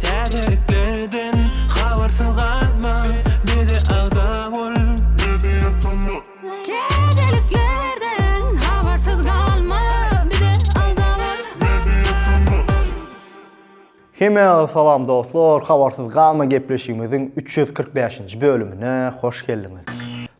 Täzeliklerden habarsyz galma, bize agza bol. Täzeliklerden habarsyz galma, bize agza bol. Hemä salam dostlar, habarsyz galma gepleşigimiziň üç ýüz kyrk bäşinji bölümine hoş geldiňiz.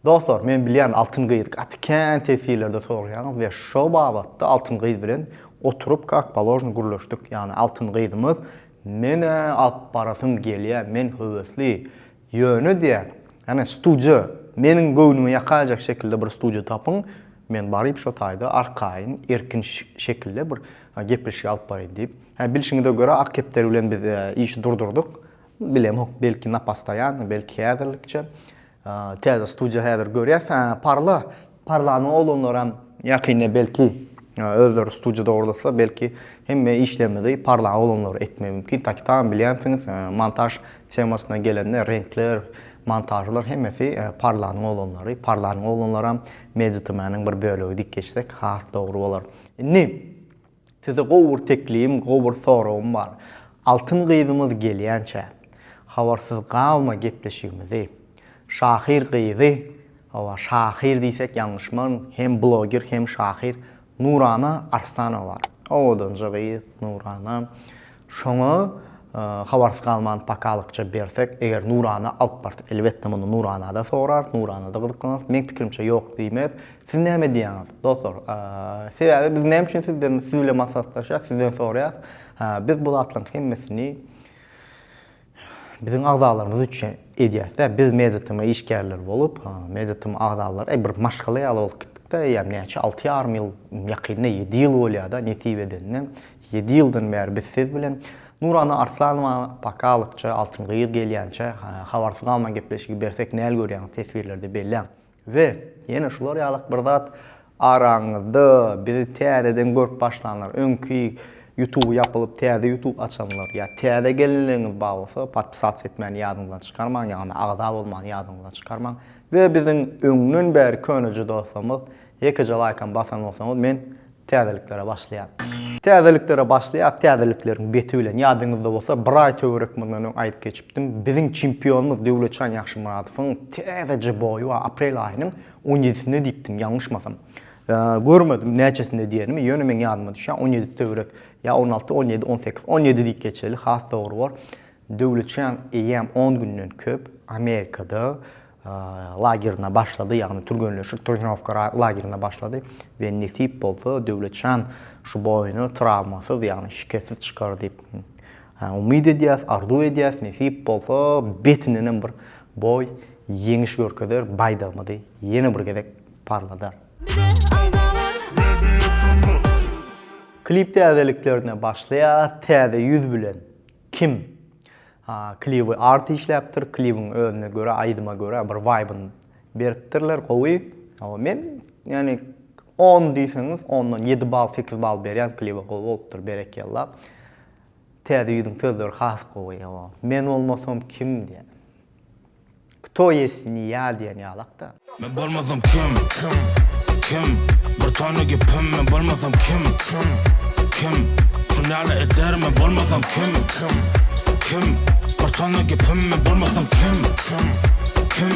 Dostlar, men bilýän Altyn gyz gaty kän teswirlerde soraýaňyz we şo babatda Altyn gyz bilen Oturyp kak položny gürleşdik ýany Altyn gyzymyz menä alyp barasym gelýä men höwesli ýöne diýä ýane studiýa meniň göwnümi ýakaýjak şekilde bir studiýa tapyň men baryp şo taýda arkaýyn erkin şekilde bir gepleşik alyp baryn diýip hä bilşiňize görä ak kepderi bilen biz işi durdurdyk bilemok belki napastaýan belki häzirlikçe Täze studiýa häzir görýäs. Hä, Parla. Parlanyň oglanlaram ýakynda belki özleri studiýa dogurlasa, belki hemme işlerimizi Parlaň oglanlary etmegi mümkin. Taky taýyn bilýänsiňiz, montaž temasyna gelende reňkler, montažlar hemmesi Parlanyň oglanlary. Parlanyň oglanlaram Media TM-niň bir bölegi diýip geçsek has dogry bolar. Indi. Size gowy bir teklibim, gowy bir soragym bar. Altyn gyzymyz gelýänçä, habarsyz galma gepleşigimizi. Şahyr gyzy, hawa, şahyr diýsek ýalňyşmaryn, hem bloger, hem şahyr Nurana Arslanowa bar. Owadanja gyz Nurana. Şoňa habarsyz galman pakalykça bersek, eger nurana alyp barsa, elbetde muny nuranada sorarys, nuranada gyzyklanarys. Meň pikirimçe ýok diýmez. Siz näme diýýäňiz, dostlar? Sebäbi biz näme üçin sizden, siz bilen maslahatlaşýas, sizden soraýas. Biz bu zatlaryň hemmesini Biziň agzalarymyz üçin edýäs-dä. Biz MediaTm-a işgärler bolup, MediaTm agzalary, eý, bir maşgala ýaly bolup gitdik-de, eýýäm näçe, alty ýarym ýyl, ýakynda ýedi ýyl bolýar-da, nesip edende. Ýedi ýyldan bäri biz siz bilen. Nurana Arslanowany paka alypjy, Altyn gyz gelýänçä, habarsyz galman gepleşigi bersek näl görýäňiz, teswirlerde belläň. We, ýene şular ýalyk bir zat, araňyzda bizi täzeden görüp başlanlar, öňki ýutuby ýapylyp täze ýutub açanlar, ýa täze gelinligiňiz bar bolsa, podpisats etmäni ýadyňyzdan çykarmaň, ýagny agza bolmany ýadyňyzdan çykarmaň. We biziň öňden bäri köneje dostlarymyz, ýekeje laýkam basan bolsaňyz, men Täzeliklere başlaýan. Täzeliklere başlaýas, täzelikleriň beti bilen. Ýadyňyzda bolsa, bir aý töwerek mundan öň aýdyp geçipdim. Biziň çempionymyz Döwletjan Ýagşymyradowyň täzeje boýy bar, aprel aýynyň on ýedisinde diýipdim, ýalňyşmasam. Görmedim, näçesinde diýenimi, ýöne meň ýadyma düşýär, on ýedisi töwerek, ýa on alty, on ýedi, on sekiz, on ýedi diýip geçeli, has dogry bor. Döwletjan eýýäm on günden köp Amerikada, lagerine başlady, ýagny türgenleşik trenirowka lagerine başlady we nesip bolsa Döwletjan şu boýuny trawmasyz, ýagny şikessiz çykar diýip umyt edýäs, arzuw edýäs, nesip bolsa betindenem bir boý ýeňiş görkezer, baýdagymyzy ýene bir gezek parladar. Klip täzeliklerine başlaýas, täze ýüz bilen Kim? A, kliwy art işläpdir, kliwyň özüne görä, aýdyma görä bir waýbyny beripdirler, gowy. Hawa, men ýani on diýseňiz, ondan ýedi bal, sekiz bal berýän kliwa gowy bolupdyr, berekella. Täze ýüzüň sözleri has gowy, hawa. Men bolmasam kim diýýän. Kto ýest niýa diýen ýalakda. Men bolmasam kim kim kim bir tony gepim men bolmasam kim kim kim şun ýaly eder men bolmasam kim kim kim bir tony gepim men bolmasam kim kim kim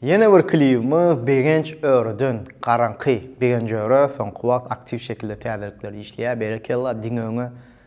Ýene bir klibimiz Begenç Öreden Garaňky. Begenç Öre soňky wagt aktiw şekilde täzelikler işleýär. Berekella, diňe öňe.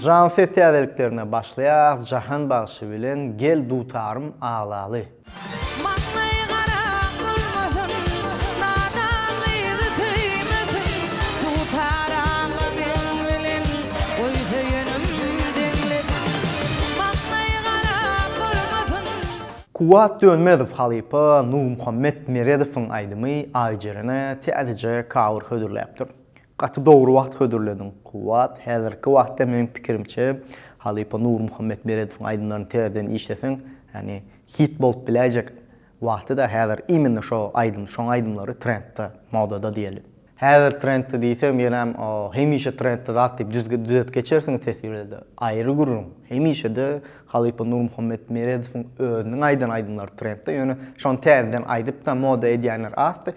Jan ses täzeliklerine başlaýas Jahan bagşy bilen Gel dutarym aglaly. Maslaý gara bolmasyn, nadan gyzy söýmesin, Dutar agla meň bilen, goý söýenim deňlesin. Maslaý gara bolmasyn. Kuwwat Dönmezow halypa Nurmuhammet Meredowyň aýdymy Aýjerene täzeje cover hödürläpdir. Gaty dogry wagt hödürlediň Kuwwat, häzirki wagtda meniň pikirimçe halypa Nurmuhammet Meredowyň aýdymlaryny täzeden işleseň ýagny hit bolup biläýjek wagtyda häzir immenne şo aýdym şoň aýdymlary trendda modada diýeli. Häzir trendda diýseň ýönem hemişe trendda zat diýip düzet geçersiň teswirde aýry gürrüň hemişede halypa Nurmuhammet Meredowyň özüniň aýdan aýdymlary trendda ýöne şony täzeden aýdypda moda edýänler azdy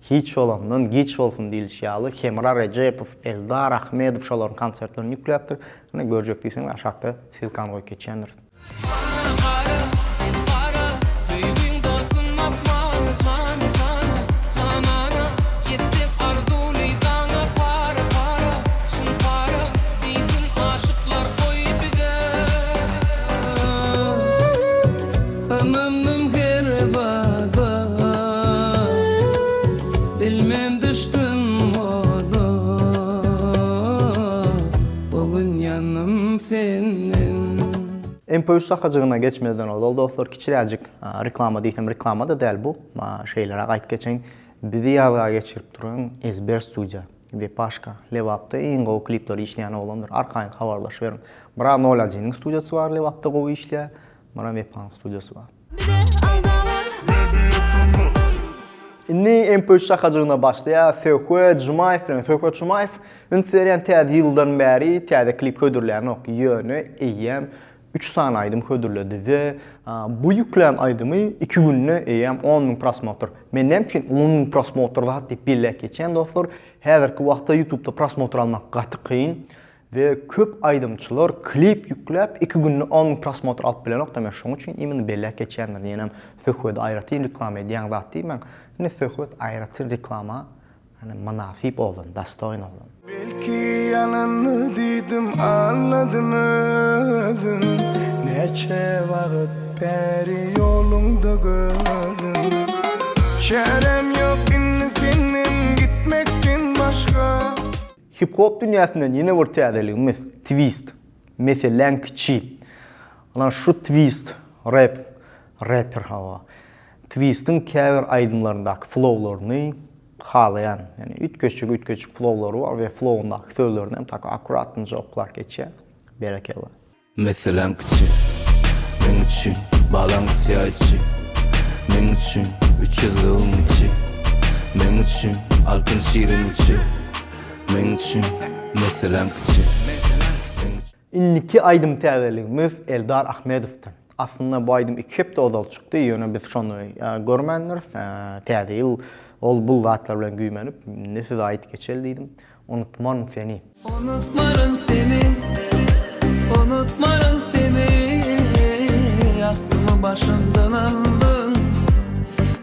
Hiç bolandan giç bolsun diýlişi ýaly, Hemra Rejepow, Eldar Ahmedow şolaryň konsertlerini ýükläpdir. Ine, görjek diýseň, aşakda ssylkany goýup geçendiris. Mary gara sen gara söýgiň dalsyn asmana jana jana janana ýetsin arzuwly daňa para para çyn para diýsin aşyklar goý bize. Ynandym her zada Bilmen düşdüm oda Bu gün ýanym senden. MP üç sakajygyna geçmezden ozal dostlar kiçiräjik reklama diýsem reklama-da däl bu şeýleräk aýyp geçeýin bizi ýazga geçirip duran Ezber studiýa we Paşka Lebapda iň gowy klipleri işleýän oglandyr arkaýyn habarlaşyberiň bir a nol ojiniň studiýasy bar Lebapda gowy işleýär Munam Wepanyň studiýasy bar. Indi MP üç şakajygyna başlaýas. Söhbet Jumaýew bilen. Söhbet Jumaýew üns berýän täze ýyldan bäri täze klip hödürlänok. Ýöne eýýäm üç sany aýdym hödürledi we bu ýüklän aýdymy iki günde eýýäm on müň prosmotr. Men näme üçin on müň prosmotr zat diýip belläp geçýän dostlar. Häzirki wagtda ýutubda prosmotr almak gaty kyn. We köp aýdymçylar klip ýükläp iki günde on müň prosmotr alyp bilenokda men şoň üçin imini belläp geçýändir diýenem söhbedi aýratyn reklama edýäň zat diýmäň indi söhbet aýratyn reklama ýagny mynasyp oglan dastoýn oglan. Belki ýalandyr diýdim aňladym özüm Näçe wagt bäri ýoluňda gözüm Çärem ýok indi senden gitmekden başga. Hip-hop dünýäsinden ýene bir täzeligimiz, twist. Meseläň kiçi. Ana şu twist, rap, rapper hawa. Twistiň käbir aýdymlaryndaky flowlaryny halaýan. Ýani üýtgeşik-üýtgeşik flowlary bar we flowundaky sözlerini hem tak akuratnje oklap geçýär. Berekella. Meselem kiçi, meň üçin balaň syýa içi, Meň üçin üç ýüzlügiň içi, Meň üçin altyn şirin içi, Meň üçin meselem kiçi, meň üçin. Indiki aýdym täzeligimiz Eldar Ahmedowdan. Aslynda bu aýdym iki hepde ozal çykdy, ýöne biz şony görmändiris. Täze ýyl ol bul zatlar bilen güýmenip, indi size aýdyp geçeli diýdim. Unutmaryn seni. Unutmaryn seni, unutmaryn seni, Aklymy başymdan aldyň,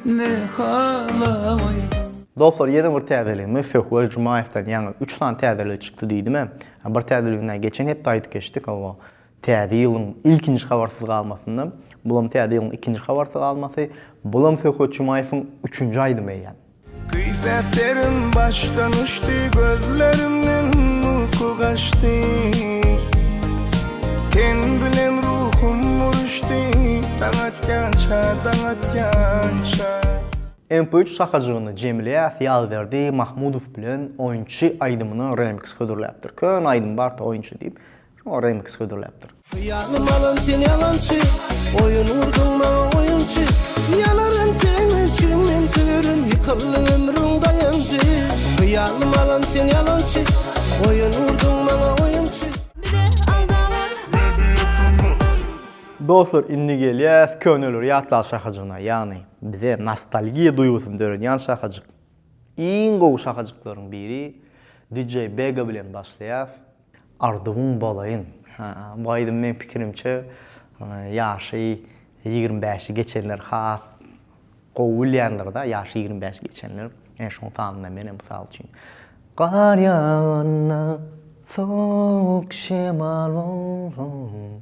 ne hala goýduň. Dostlar ýene bir täzelik Müfeh Weljumaýewden ýaňy üç sany täzelik çykdy diýdimä. Bir täzeligini näme geçen hepde aýdyp geçdik hawa. Täze ýylyň ilkinji habarsyz galmasynda. Bulam täze ýylyň ikinji habarsyz galmasy. Bulam Söhbet Jumaýewiň üçünji aýdymy eýýäm. Kysy serin başdan uçdy gözlerimden uyku kaçtı Ten bilen ruhum uruşdy daň atýança daň atýança MP3 sakajygyny Jemilýäs Ýazberdi Mahmudow bilen Oýunçy aýdymyna remix hödürläpdir. Köne aýdym bar-da Oýunçy diýip. Şoňa remix hödürläpdir. Hyýalym alan sen ýalançy, Oýun gurduň maňa oýunçy. Ýanaryn seň üçin men süýrüm, Ýykyldy ömrüň daýanjy. Hyýalym alan sen ýalançy, Oýun gurduň maňa oýunçy. Dostlar indi gelýäs köneleri ýatlag şahajygyna ýagny bize nostalgiýa duýgusyny döredýän şahajyk. Iň gowy şahajyklaryň biri DJ Bega bilen başlaýas. Arzuwyň bolaýyn. Bu aýdym meň pikirimçe ýaşy ýigrimi bäşi geçenler has gowy bilýändirda ýaşy ýigrimi bäşi geçenler ene şoň sanynda menem mysal üçin Gar ýaganda sowuk şemal bolsun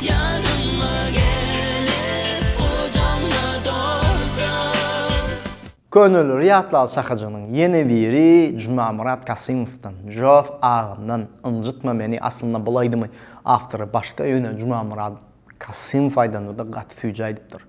Ýadyma gelip gujagyma dolsaň. Könelere ýatlal şahajygynyň ýene biri Jumamyrat Kasymowdan, Jof agamdan, Ynjytma meni aslynda bul aýdymy awtory başga ýöne Jumamyrat Kasymow aýdanda-da gaty süýji aýdypdyr.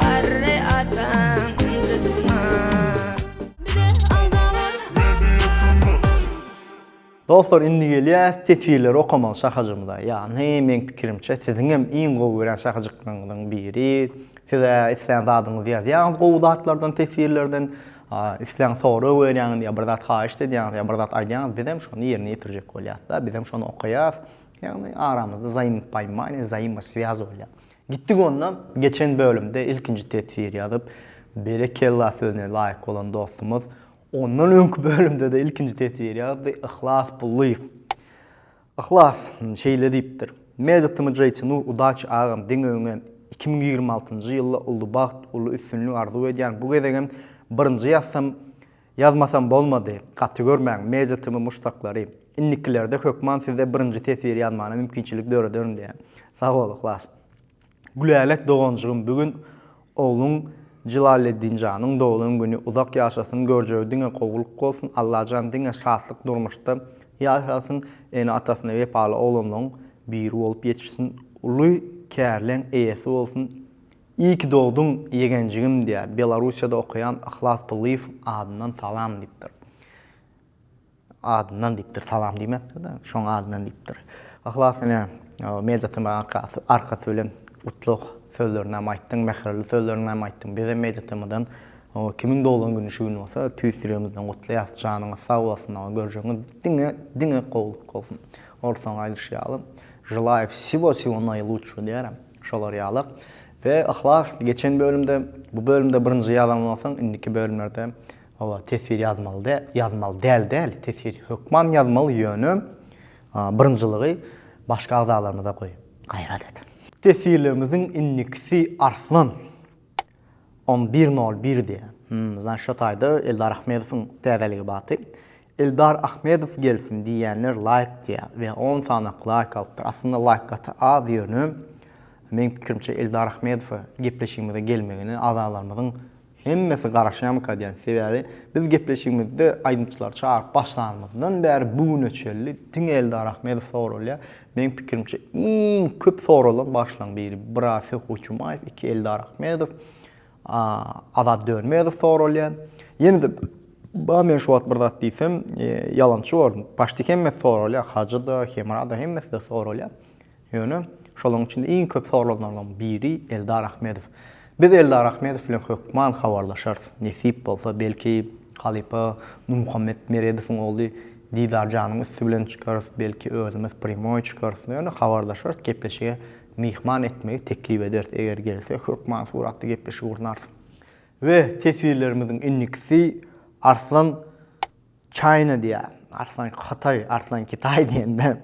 Garry ataň ynjytma. Bize agza bol. Media tm. Dostlar indi gelýäs teswirleri okamaga şahajymyza ýagny meň pikirimçe siziňem iň gowy görýän şahajyklaryňyzyň biri size islän zadyňyzy ýazýaňyz gowy zatlardan teswirlerden islän sorag berýäňiz ýa bir zat haýyşt edýäňiz ýa bir zat aýdýaňyz bizem şony ýerine ýetirjek bolýas-da bizem şony okaýas ýagny aramyzda zaýmypaimaniýe zaýmoswýaz bolýar Gitdik onda, geçen bölümde ilkinji teswir ýazyp, berekella sözüne laýyk bolan dostumyz ondan öňki bölümde-de ilkinji teswir ýazdy, Yhlas Pullyýew. Yhlas şeýle diýipdir, Mejitimi Jaýçynu udaçi agam diňe öňe iki müň ýigrimi altynjy ýylda uly bagt, uly üstünlik arzuw edýän bu gezegem birinji ýazsam Ýazmasam bolmady, gaty görmäň, Media TM muşdaklary. Indikilerde hökman size birinji teswir ýazmana mümkinçilik dörederin diýýän. Sag bol Yhlas. Gülälek doganjygym bu gün ogluň Jylaleddinjanyň doglan güni uzak ýaşasyn görjegi diňe gowulyk bolsun Allajan diňe şatlyk durmuşda ýaşasyn ene atasyna wepaly oglanlaň biri bolup ýetişsin uly kärleň eýesi bolsun İyi ki dogduň ýegenjigim diýä Belarusiýada okaýan Yhlas Pullyýew adyndan salam diýipdir. Adyndan diýipdir, salam diýmepdir-de, şoň adyndan diýipdir. Yhlas ine Media TM arkasy bilen gutlug sözlerini hem aýtdyň, mähirli sözlerini hem aýtdyň. Bizem Media TM-dan kimiň doglan güni şu gün bolsa tüýs ýüregimizden gutlaýarys. Janyňyz sag bolsun aga, görjegiňiz diňe diňe gowulyk bolsun. Orsaň aýdyşy ýaly, Želaya wsiwo-wsiwo naýlutşşo diýýärem. Şolar ýaly. We Yhlas geçen bölümde bu bölümde birinji ýazan bolsaň indiki bölümlerde oba teswir ýazmaly dä ýazmaly däl däl teswir hökman ýazmaly ýöne birinjilygy başga agzalarymyza goý gaýrat et. Teswirlerimiziň indikisi Arslan. On bir nol bir diýýär. Hum, zna şo taýda Eldar Ahmedowyň täzeligi baty. Eldar Ahmedow gelsin diýýänler laýk diýä we on sanak laýk alypdyr. Aslynda laýk gaty az ýöne meň pikirimçe Eldar Ahmedowa gepleşigimize gelmegine agzalarymyzyň hemmesi garaşýamyka diýän. Sebäbi biz gepleşigimizde aýdymçylary çagyryp başlanymyzdan bäri bu güne çelli diňe Eldar Ahmedow soralýar. Meň pikirimçe iň köp soralan başlaň biri Birafi Goçumaýew, iki Eldar Ahmedow, Azat Dönmezow soralýar. Ýene-de ba men şu wagt bir zat diýsem, e, ýalançy bor. Başda hemmesi soralýar, Hajy-da, Hemra-da hemmesi-de soralýar. Ýöne şolaryň içinde iň köp soralanlaryň biri Eldar Ahmedow. Biz Eldar Ahmedow bilen hökman habarlaşarys, nesip bolsa, belki, halypa Nurmuhammet Meredowyň ogly Didarjanyň üsti bilen çykarys, belki, özümiz prýamoý çykarys, ýöne habarlaşarys, gepleşige myhman etmegi teklip ederis, eger gelse, hökman suratly gepleşik gurnarys. We teswirlerimiziň indikisi Arslan China diýýär. Arslan Hytaý, Arslan Kitaý diýende,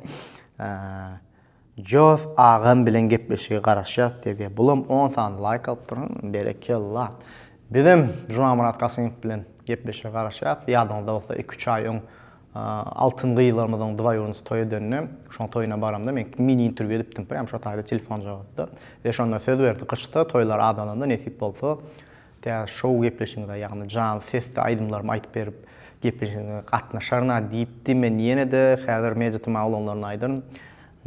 Jos agam bilen gepleşige garaşýas dede bulam on sany laýk alyp durun berekella bizem Jumanmyrat Kasymow bilen gepleşige garaşýas ýadyňyzda bolsa iki üç aý öň altyn gyzlarymyzyň dwaýurnysy toý edende şoň toýuna baramda men mini interwýu edipdim prýam şo taýda telefon jogapdy we şonda söz berdi gyşda toýlar adalanda nesip bolsa Tä şou gepleşigiňize, ýagny janly sesde aýdymlarymy aýdyp berip, gepleşigiňize gatnaşaryn-a diýipdi, men ýene-de häzir media tma bolanlaryna aýdaryn,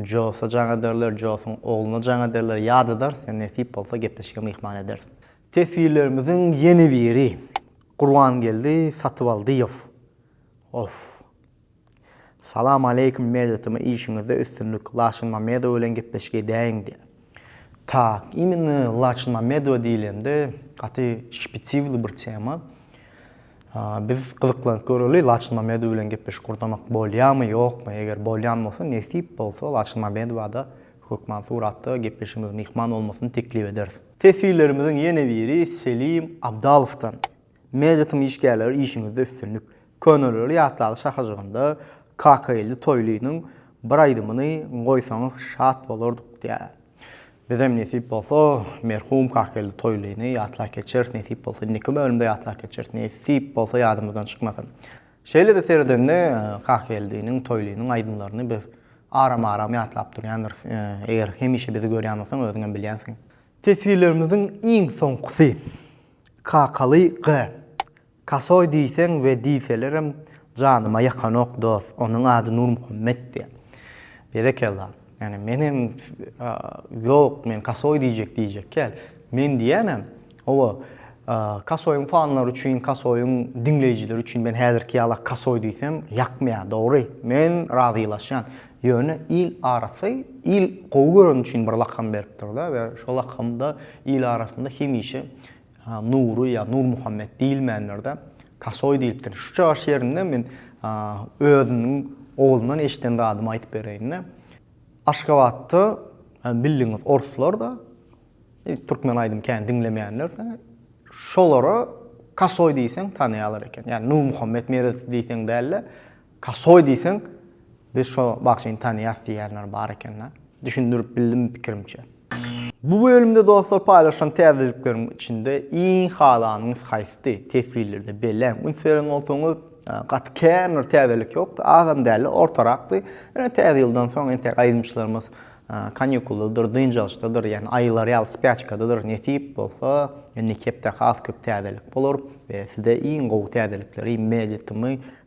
Josa jaň ederler, Josyň ogluna jaň ederler, ýat ederis, ýa nesip bolsa gepleşige myhman ederis. Teswirlerimiziň ýene biri, Gurbangeldi Satybaldyýew. Of! Salam aleýkum Meýdatyma işiňizde üstünlik Laçyn Mamedowa bilen gepleşik edäýiň diýýär. Tak, immine Laçyn Mamedowa diýilende gaty şpitiwli bir tema. Biz gyzyklanyp göreli Laçyn Mamedowa bilen gepleşik gurnamak bolýamy ýokmy eger bolýan bolsa nesip bolsa Laçyn Mamedowada hökman suratda gepleşigimize myhman bolmasyny teklip ederis. Teswirlerimiziň ýene biri Selim Abdalowdan. Mejlisiň işgärleri işiňizde üstünlik. Köneleri ýatlaly şahajygynda Kakageldi Toýlynyň bir aýdymyny goýsaňyz şat bolardyk diýýär. Bizem nesip bolsa merhum Kakageldi Toýlyny ýatlap geçeris nesip bolsa indiki bölümde ýatlap geçeris nesip bolsa ýadymyzdan çykmasa. Şeýlede seredende Kakageldiniň Toýlynyň aýdymlaryny biz aram aram ýatlap durýandyrys eger hemişe bizi görýän bolsaň özüňem bilýänsiň. Teswirlerimiziň iň soňkusy. Kakaly gy. Kasoý diýseň we diýselerem janyma ýakanok dos, onuň ady Nurmuhammet diýýä. Berekella. Ýani menem ýok men kasoý diýjek diýjekkäl. Men diýýänem, owa, kasoýyň fanlary üçin, kasoýyň diňleýjileri üçin men häzirki ýala kasoý diýsem ýakmaýa, dogry. Men razylaşýan. Ýöne il arasy il gowy göreni üçin bir lakam beripdir-de we şo lakamda il arasynda hemişe Nury ýa Nurmuhammet diýilmändir-de, Tasoý diýilipdir. Şu çygaş ýerinde men özümiň oguldan eşiden zadymy aýdyp bereýin-de. Aşgabatda bildigiňiz oruslar-da, türkmen aýdym kän diňlemeýänler-de, şolara Kasoý diýseň tanaýarlar eken. Ýagny Nurmuhammet Meredow diýseň däl-de, Kasoý diýseň, biz şo bagşyny tanýas diýýänler bar eken-le. Düşündirip bildimmi pikirimçe. Bu bölümde dostlar paýlaşan täzelikleriň içinde iň halanyňyz haýsy? Teswirlerde belläň. Üns beren bolsaňyz, gaty kän bir täzelik ýokdy, azam däldi, ortarakdy. Ýöne täze ýyldan soň entek aýdymçylarymyz kanýukuldadyr, dynç alyşdadyr, ýagny aýylar ýaly spýaçkadadyr. Nesip bolsa, indiki hepde has köp täzelik bolar we sizde iň gowy täzelikleri, Meditimi,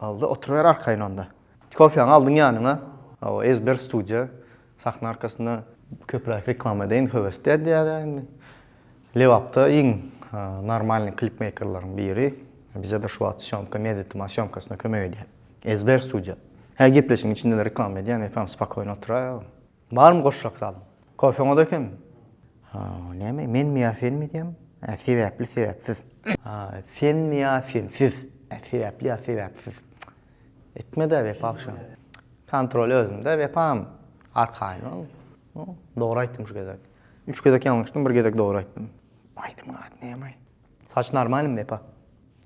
Alda oturyber arkaýyn onda. Kofýaňy aldyň ýanyňa. Hawa, Ezber studiýa. Sahna arkasynda. Köpräk reklama edeýin höwesli edýäs-ä indi. Lebapda iň normalnyý klipmeýkerleriň biri. Bize-de şu wagt sýomka, Meditimal sýomkasyna kömek edýär. Ezber studiýa. Hä gepleşigiň içinde-de reklama edýän, eýsem spokoýno otyraýaň. Barmy goşjak zalyň? Kofeňiz ekem. Ha, näme, menmi ýa senmi diýýäň? Hä, sebäpli, sebäpsiz. Ha, senmi ýa sensiz? Hä, sebäpli ýa sebäpsiz. Etme-dä, Wepa agşam. Kontrol özümde, Wepam. Arkaýyn ol. Dogry aýtdym şu gezek. Üç gezek ýalňyşdym, bir gezek dogry aýtdym. Aýdym gaty näme? Saç normalmi epa?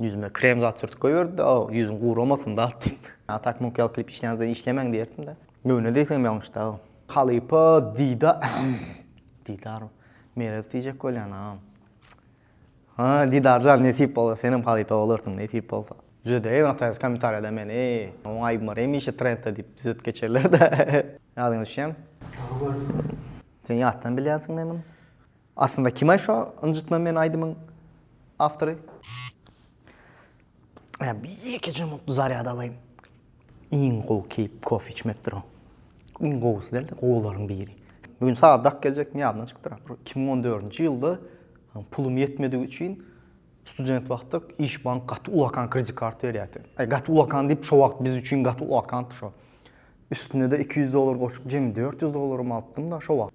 Ýüzüme krem zat sürtüp goýberdi-de, aw, ýüzüň guramasyn zat diýip. A tak muk ýaly klip işleýänizde işlemäň diýerdim-de. Göwne degsem ýalňyşdy, aw. Halypa Dida Didar Merez diýjek bolýan, a. Ha, Didar jan, nesip bolsa senem halypa bolarsyň, nesip bolsa. Düzedeýin ataýsy kommentariýada meni. Oň aýby bar hemişe trendde diýip düzedip geçerler-de. Ýadyňa düşýämi? Sen ýatdan bilýänsiň-le muny. Aslynda kime şo ynjytma men aýdymyň awtory. Ä bir ýeke jumutly zarýad alaýyn. Iň gowy keýp kofe içmek dur. Iň gowusy däl-de gowularyň biri. Bu gün sagat dak geljekdim ýadymdan çykypdyr. Bir iki müň on dördünji ýylda pulum ýetmedigi üçin student wagtda iş bank gaty ulakan kredit kart berýärdi. Aý gaty ulakan diýip şo wagt biz üçin gaty ulakandy şo. Üstüne-de iki ýüz dollar goşup jemi dört ýüz dollarymy alypdym-da şo wagt.